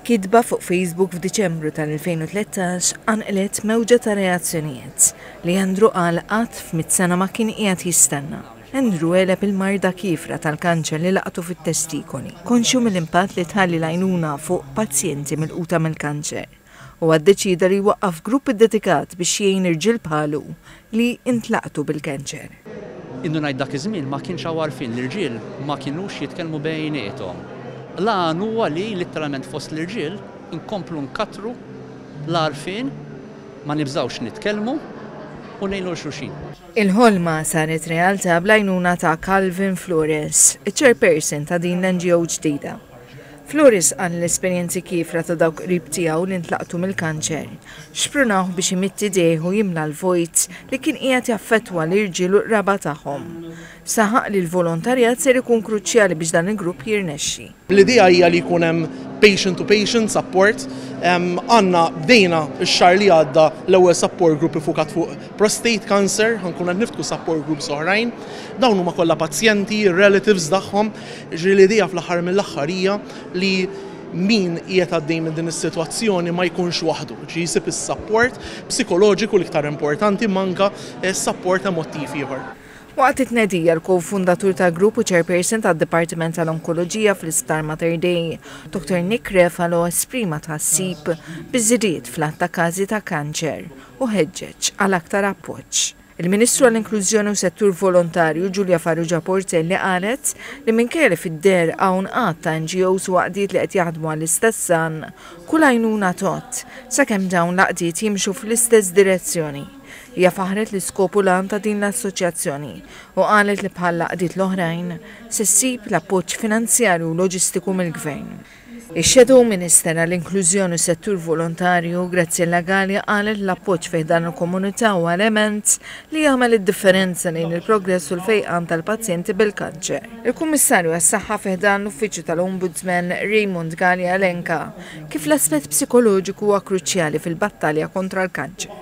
Kitba fuq Facebook f'Diċembru tal-2013 qanqlet mewġa ta' reazzjonijiet, li Andrew qal qatt f'mitt sena ma kien qiegħed jistenna. Andrew għeleb il-marda kiefra tal-kanċer li laqtu fit-testikoli, konxju mill-impatt li tħalli l-għajnuna fuq pazjenti milquta mill-kanċer. Huwa ddeċieda li jwaqqaf grupp iddedikat biex jgħin irġiel bħalu li ntlaqtu bil-kanċer. Innu ngħid dak iż-żmien ma kienx hawn għarfien, l-irġiel ma kinux jitkellmu bejniethom. L-għan huwa li litteralment fost l-irġiel inkomplu nkattru l-għarfien, ma nibżgħux nitkellmu u ngħinu 'l xulxin. Il-ħolma saret realtà bl-għajnuna ta' Calvin Flores, iċ-chairperson ta' din l-NGO ġdida. Flores qal l-esperjenzi kiefra ta' dawk qrib tiegħu li ntlaqtu mill-kanċer, xprunawh biex imidd idejh u jimla l-vojt li kien qiegħed jaffettwa l-irġiel u l-qraba tagħhom. Saħaq li l-volontarjat ser ikun kruċjali biex dan il-grupp jirnexxi. L-idea hija li jkun hemm patient to patient support. Għandna, bdejna x-xahar li għadda l-ewwel support group iffukat fuq prostate cancer, ħa nkunu qed niftħu support groups oħrajn. Dawn huma kollha pazjenti, ir-relatives tagħhom. Jiġri li l-idea fl-aħħar mill-aħħar hija li min qiegħed għaddej minn din is-sitwazzjoni ma jkunx waħdu, ġi jsib is-sapport psikoloġiku l-iktar importanti ma anke sapport emottiv ieħor. Waqt it-tnedija, l-ko-fundatur tal-grupp u chairperson tad-Dipartiment tal-Onkoloġija fl-Isptar Mater Dei, Dottor Nick Refalo esprima tħassib biż-żidied fl-għadd ta' każi ta' kanċer u ħeġġeġ għal aktar appoġġ. Il-Ministru għall-Inklużjoni u Settur Volontarju Julia Farrugia Portelli qalet li minkejja li fid-deher hawn għadd ta' NGOs u għaqdiet li qed jaħdmu għall-istess għan, kull għajnuna tgħodd, sakemm dawn l-għaqdiet jimxu fl-istess direzzjoni. Hija faħħret l-iskop u l-għan ta' din l-assoċjazzjoni u qalet li bħall-għaqdiet l-oħrajn, se ssib l-appoġġ finanzjarju u loġistiku mill-Gvern. Ix-Shadow Minister għall-Inklużjoni u Settur Volontarju, Graziella Galea qalet li l-appoġġ fi ħdan il-komunità huwa element li jagħmel id-differenza lejn il-progress u l-fejqan tal-pazjenti bil-kanċer. Il-Kummissarju għas-Saħħa fi ħdan l-Uffiċċju tal-Ombudsman, Raymond Galea elenka kif l-aspett psikoloġiku huwa kruċjali fil-battalja kontra l-kanċer.